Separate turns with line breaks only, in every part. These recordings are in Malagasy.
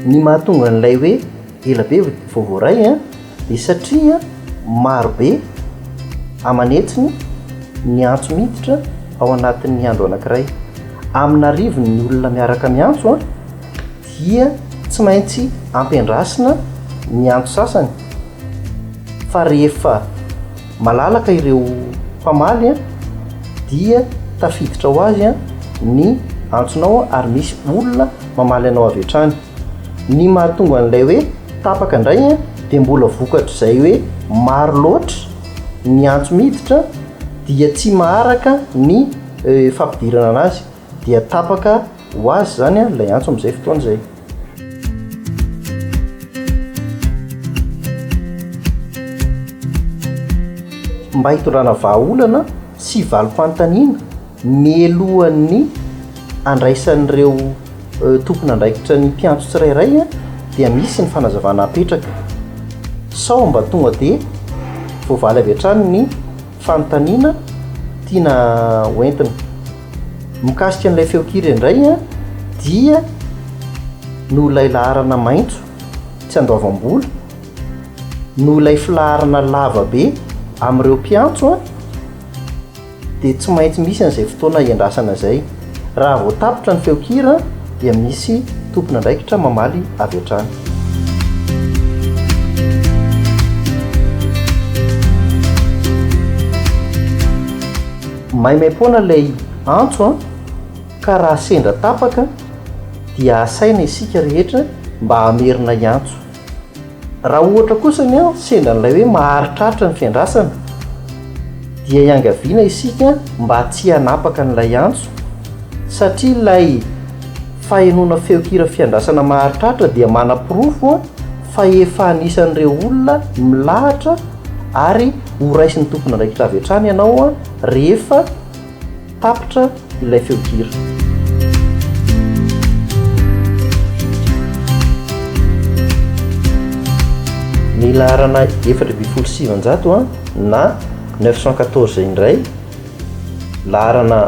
Ny mahatonga an'ilay hoe Ela be vao voaray an! Dia satria maro be aman'hetsiny ny antso miditra ao anatin'ny andro anankiray. Amina arivony ny olona miaraka miantso an! Dia tsy maintsy ampiandrasina ny antso sasany fa rehefa malalaka ireo mpamaly an! Dia tafiditra ho azy an! Ny antsonao an! Ary misy olona mamaly anao avy hatrany. Ny mahatonga an'ilay hoe tapaka indray dia mbola vokatr'izay hoe maro loatra ny antso miditra dia tsy maharaka ny fampidirana anazy dia tapaka ho azy izany ilay antso amin'izay fotoana izay. Mba hitondrana vahaolana. Tsy valim-panontaniana, mialohan'ny handraisan'ireo tompon'andraikitra ny mpiantso tsirairay dia misy ny fanazavana apetraka. Sao mba tonga dia voavaly avy hatrany ny fanontaniana tiana hoentina. Mikasika an'ilay feonkira indray dia noho ilay laharana maitso tsy andoavam-bola, noho ilay filaharana lava be amin'ireo mpiantso dia tsy maintsy misy an'izay fotoana iandrasana izay. Raha vao tapitra ny feonkira dia misy tompon'andraikitra mamaly avy hatrany. Maimaimpoana ilay antso ka raha sendra tapaka dia asaina isika rehetra mba hamerina hiantso. Raha ohatra kosa ny an sendra an'ilay hoe maharitraritra ny fiandrasana dia iangaviana isika mba tsy hanapaka an'ilay antso satria ilay fahenoana feonkira fiandrasana maharitraritra dia manaporofo fa efa anisan'ireo olona milahatra ary horaisin'ny tompon'andraikitra avy hatrany ianao rehefa Tapitra ilay feo hira. Ny laharana efatra ambin'ny folo sy sivanjato a, na neuf cent quatorze indray, laharana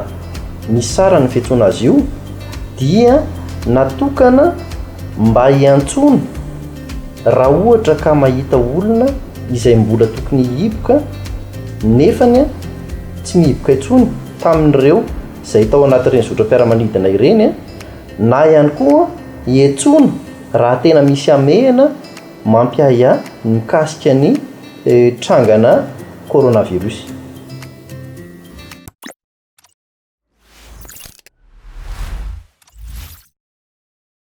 misy sarany ny fiantsoana azy io, dia natokana mba hiantsoana, Raha ohatra ka mahita olona izay mbola tokony hihiboka nefany tsy mihiboka intsony tamin'ireo izay tao anatin'ireny zotram-piaramanidina ireny na ihany koa hiantsoana raha tena misy hamehana mampiahiahy mikasika ny trangana coronavirus.